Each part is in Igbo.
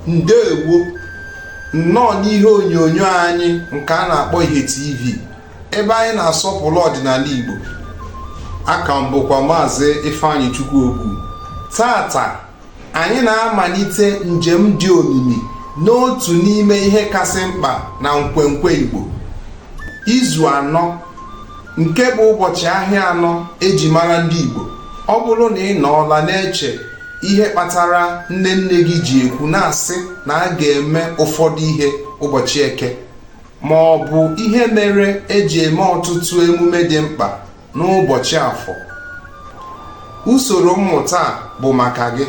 ndewo nnọọ n'ihe onyonyo anyị nke a na-akpọ ihe tv ebe anyị na-asọpụrụ ọdịnala igbo a ka m bụkwa maazị ifeanyịchukwu ogwu taata anyị na-amalite njem dị omimi n'otu n'ime ihe kasị mkpa na nkwenkwe igbo izu anọ nke bụ ụbọchị ahịa anọ e ji mara ndị igbo ọ bụrụ na ị nọọla na-eche ihe kpatara nne nne gị ji ekwu na-asị na a ga-eme ụfọdụ ihe ụbọchị eke ma ọ bụ ihe mere e ji eme ọtụtụ emume dị mkpa n'ụbọchị afọ usoro mmụta a bụ maka gị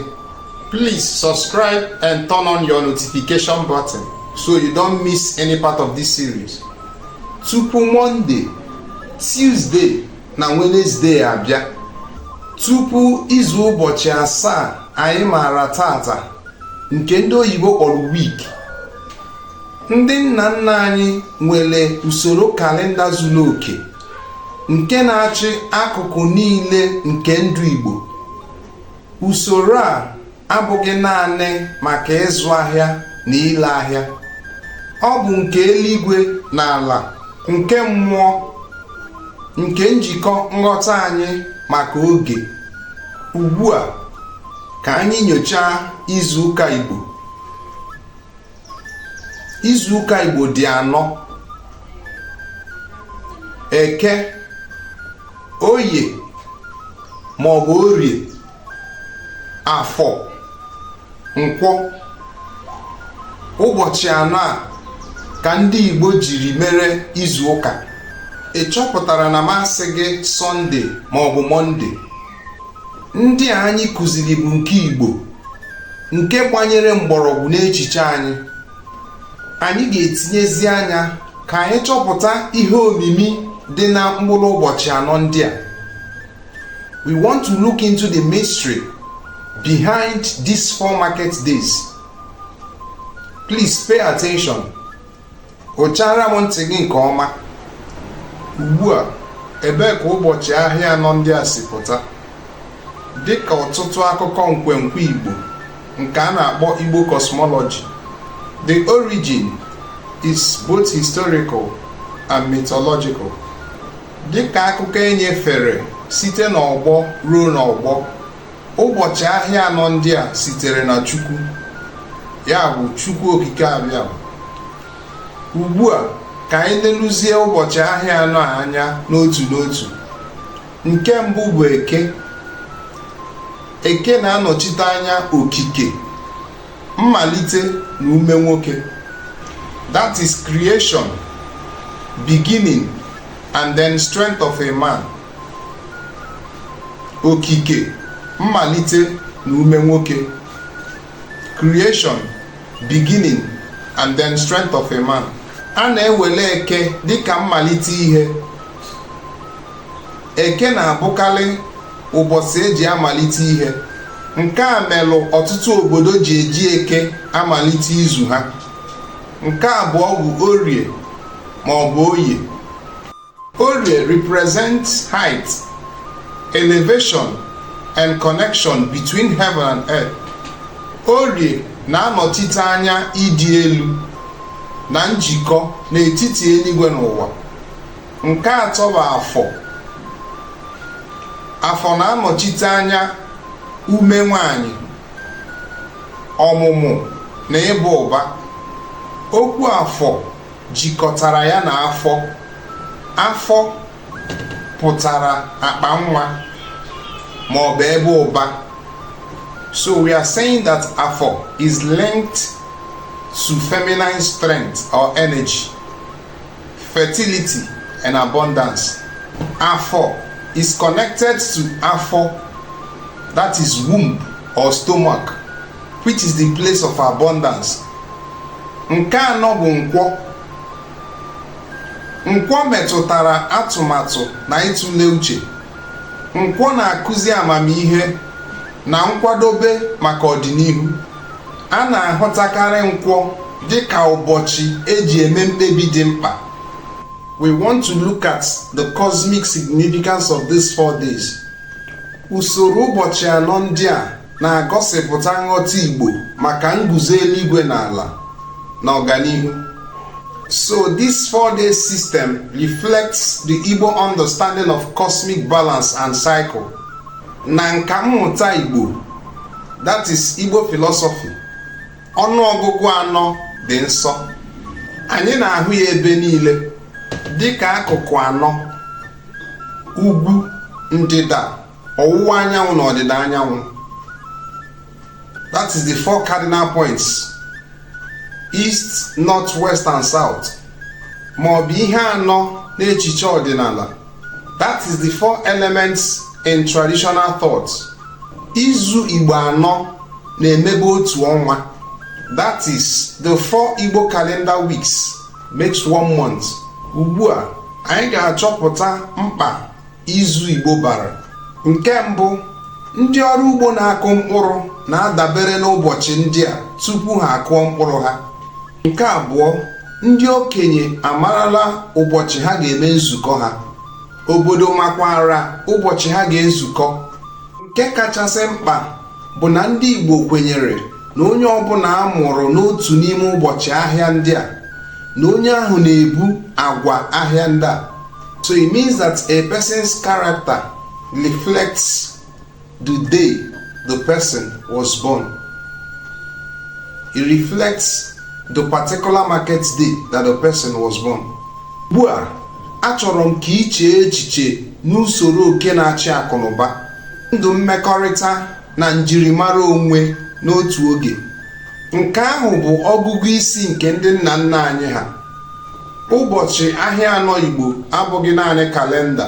please subscribe and turn on your notification button so you don't miss any part of this series tupu Monday Tuesday na Wednesday abịa tupu izu ụbọchị asaa anyị maara taata nke ndị oyibo kpọrọ week ndị nna nna anyị nwere usoro kalenda zuru oke nke na-achị akụkụ niile nke ndụ Igbo usoro a abụghị naanị maka ịzụ ahịa na ile ahịa ọ bụ nke eluigwe na ala nke mmụọ nke njikọ nghọta anyị maka oge ugbu a ka anyị nyochaa izuụka Igbo izuụka Igbo dị anọ eke oye ma ọ bụ orie afọ nkwọ ụbọchị anọ a ka ndị Igbo jiri mere izu ụka ị chọpụtara na m asịghị Sunday ma ọ bụ Monday ndị a anyị kụziri bụ nke Igbo nke gbanyere mgbọrọgwụ n'echiche anyị anyị ga-etinyezi anya ka anyị chọpụta ihe omimi dị na mkpụrụ ụbọchị anọ ndị a We want to look into the mystery behind these four market days. Please pay attention. Ochara m ntị gị nke ọma. Ugbu a, ebee ka ụbọchị ahịa anọ ndị a si pụta? Dị ka ọtụtụ akụkọ nkwenkwe Igbo nke a na-akpọ Igbo cosmology, the origin is both historical and mythological. dịka akụkọ e nyefere site n'ọgbọ ruo n'ọgbọ ụbọchị ahịa anọ ndị a sitere na Chukwu ya bụ Chukwu Okike abịa ugbu a ka anyị leluzie ụbọchị ahịa anọ a anya n'otu n'otu nke mbụ bụ eke eke na-anọchite anya okike mmalite na ume nwoke that is creation beginning and then strength of a man okike mmalite na ume nwoke creation beginning and then strength of a man a na-ewele eke dịka mmalite ihe eke na-abụkalị ụbọsị e ji amalite ihe nke a melụ ọtụtụ obodo ji eji eke amalite izu ha nke abụọ bụ orie ma ọ bụ oye orie represents height elevation and connection between heaven and earth orie na-anọchite anya ịdị elu na njikọ n'etiti eluigwe na ụwa nke atọ bụ afọ afọ na-anọchite anya ume nwanyị ọmụmụ na ịba ụba okwu afọ jikọtara ya na afọ afọ pụtara akpa nwa ma ọ bụ ebe ụba so we are saying that afọ is linked to feminine strength or energy fertility and abundance. Afọ is connected to afọ, that is womb or stomach, which is the place of abundance. Nke anọ bụ nkwọ. Nkwọ metụtara atụmatụ na ịtụle uche. Nkwọ na-akụzi amamihe na nkwadobe maka ọdịnihu. a na-ahụtakarị nkwọ dị ka ụbọchị e ji eme mkpebi dị mkpa we want to look at the cosmic significance of these four days usoro ụbọchị anọ ndị a na-agọsịpụta nghọta Igbo maka nguzo eluigwe na ala na ọganihu so this four day system reflects the Igbo understanding of cosmic balance and cycle na nka mmụta Igbo that is Igbo philosophy ọnụ ọgụgụ anọ dị nsọ anyị na-ahụ ya ebe niile dị ka akụkụ anọ ugwu ndịda ọwụwa anyanwụ na ọdịda anyanwụ that is the four cardinal points east north west and south ma ọ bụ ihe anọ n'echiche ọdịnala that is the four elements in traditional thought izu igbo anọ na-emebe otu ọnwa that is the four igbo calendar weeks makes one month ugbu a anyị ga-achọpụta mkpa izu igbo bara nke mbụ ndị ọrụ ugbo na-akụ mkpụrụ na-adabere n'ụbọchị ndị a tupu ha akụọ mkpụrụ ha nke abụọ ndị okenye amarala ụbọchị ha ga-eme nzukọ ha obodo makwara ụbọchị ha ga-ezukọ nke kachasị mkpa bụ na ndị Igbo kwenyere na onye ọbụla a mụrụ n'otu n'ime ụbọchị ahịa ndị a na onye ahụ na-ebu agwa ahịa ndị a so it means that a person's character reflects the day the person was born. It reflects the particular market day that the person was born. Ugbu a, achọrọ m ka i chee echiche n'usoro oge na-achị akụnụba, ndụ mmekọrịta na njirimara onwe n'otu oge. Nke ahụ bụ ọgụgụ isi nke ndị nna nna anyị ha. Ụbọchị ahịa anọ Igbo abụghị naanị kalenda